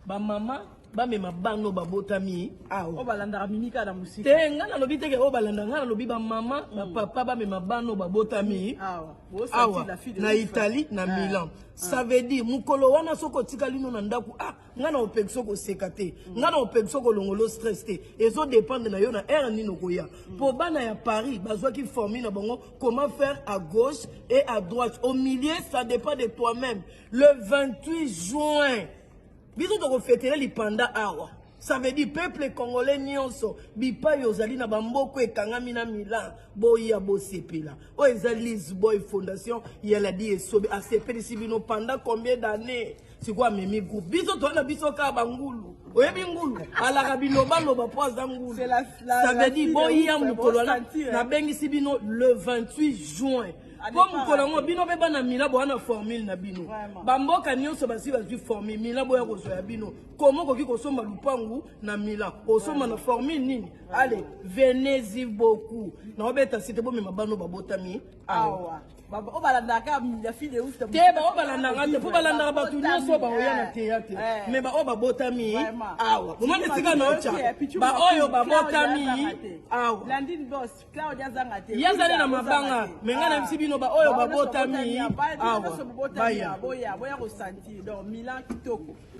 ba mama bamema bana oyo babotami oyo balandaka mimi kaka na mosika te ngai nalobi teke oyo balanda ngai nalobi bamama mm. bapapa bamema bana oyo babotami awa na italie na ah. milan ah. ça veut dire mokolo wana soki otikali no na ndako ah ngai na opekisa okoseka te mm. ngai na opekisa okolongolo stress te ezo dépendre na yo na aire nini okoya mpo mm. bana ya paris bazwaki formule na bango comment faire à gauche et à droite au milieu ça dépend de toi-même le 28 juin biso tokofetele lipanda awa ça veut dire peuple congolais nyonso bipai ozali na bamboko ekangami na milan boya bosepela oyo eza lisboy fondation ya ladi esobe asepelisi bino pendant combien d'année sikoyo amemi groupe biso toza na biso kaka bangulu oyebi ngulu alaka bilobaloba mpo aza ngulu ça veut dire boya mokolo nabengisi bino le 28 juin po mokolo yango bino mpe bana mila boya na formule na bino bamboka nyonso basi bazwi formule mila boya kozwa ya bino koma okoki kosomba lupangu na mila osomba na formule nini ale venezi beaucoup naobeta site bomema bano babotami awa oyo balandaka te baoyo balandaka te mpo balandaka bato nyonso baoya na teyatre eh. me baoyo babotami awa omoni esika naotya baoyo babotami awa ye azali na mabanga me ngai nayebisi bino baoyo babotami awa baya